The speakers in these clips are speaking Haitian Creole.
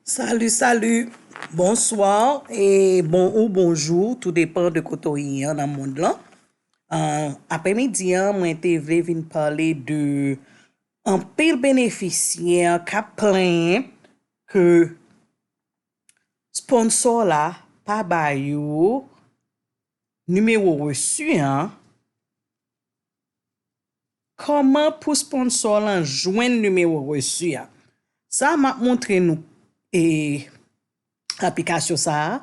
Salut salut bonsoir e bon ou bonjou tou depan de kote w ye an nan mond lan an apremidi an mwen te vle vin pale de anpil benefisyè kap plenyen ke sponsò la pa ba yo nimewo resu an Kòman pou sponsor lan jwenn numéro reçu a? Sa map montre nou aplikasyon sa a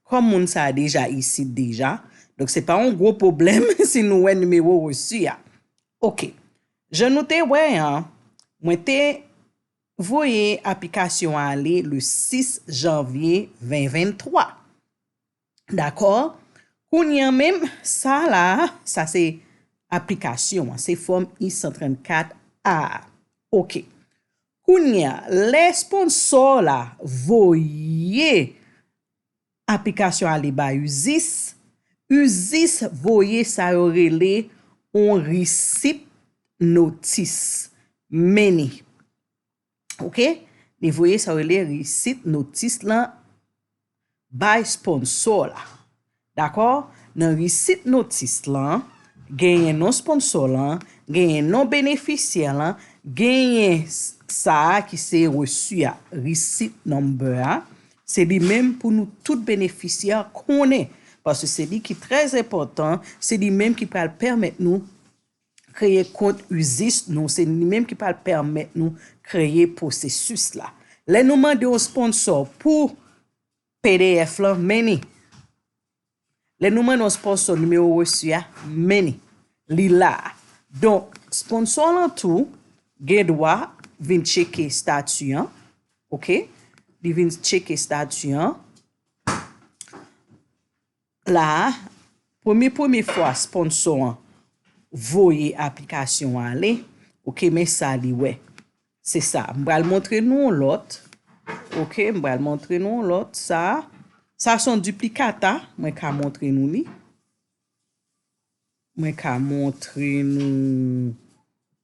kòm moun sa a deja isit deja donk se pa yon gwo pwoblèm si nou wè numéro reçu a ok jan nou te wè an mwen te voye aplikasyon ale le 6 janvier 2023. Dakò, kounye an menm, sa la a, sa se aplikasyon an, se Fòm I-134 A a. Oke. Kounye a, lè esponnsò w la voye aplikasyon ale bay uscis, uscis voye sa yo rele yon resip notis, meni. ok li voye sa yo rele receipt notice lan bay sponsor la dakò nan receipt notice lan genyen non sponsor lan genyen non benefisyè lan genyen sa ki se reçu a receipt number a se li menm pou nou tout benefisyè konnen paske se li ki trè enpòtan se li menm ki pral pèmèt nou. kreye kont uscis nou, se li menm ki pral pèmèt nou kreye pwosesis la. Lè nou mande yon sponsò pou pdf lan, many. Lè nou mande yon sponsò nimewo resu a, many. Li la a. Donk, sponsò lan tou gen dwa vin tcheke stati an. Ok. Li vin tcheke stati an. la a, premye premye fwa sponsò an voye aplikasyon an ale, ok, men sa li wè. Se sa, m pral montre nou yon lòt, ok, m pral montre nou yon lòt, sa a, sa son duplicata, mwen ka montre nou li, mwen ka montre nou.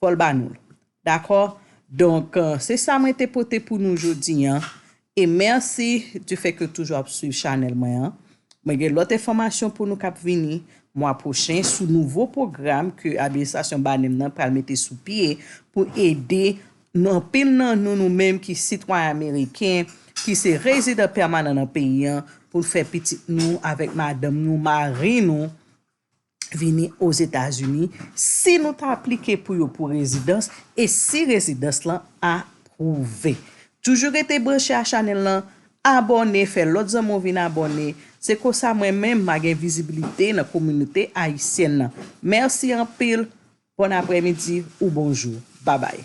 Fòl ba noul. Dakò? Donk se sa mwen te pote pou nou jodi an. E mèsi du fè ke toujou ap swiv chanèl mwen an. Mwen gen lòt enfòmasyon pou nou kap vini mwa pwochen sou nouvo pwogram ke administrasyon Banem nan pral mete sou pye pou ede anpil nan nou nou menm ki sitwayen ameriken ki se rezidan pèmanan nan peyi an pou n fè pitit nou avèk madanm nou, mari nou. vini Ozetazini si nou ta aplike pou yo pou rezidans e si rezidans lan apwouve. Toujou rete branche a chanèl lan, abòne, fè lòt zanmi w vin abòne, se konsa mwen menm ma gen vizibilite nan kominote ayisyèn lan. Mèsi anpil, bòn aprèmidi ou bonjou. Babay.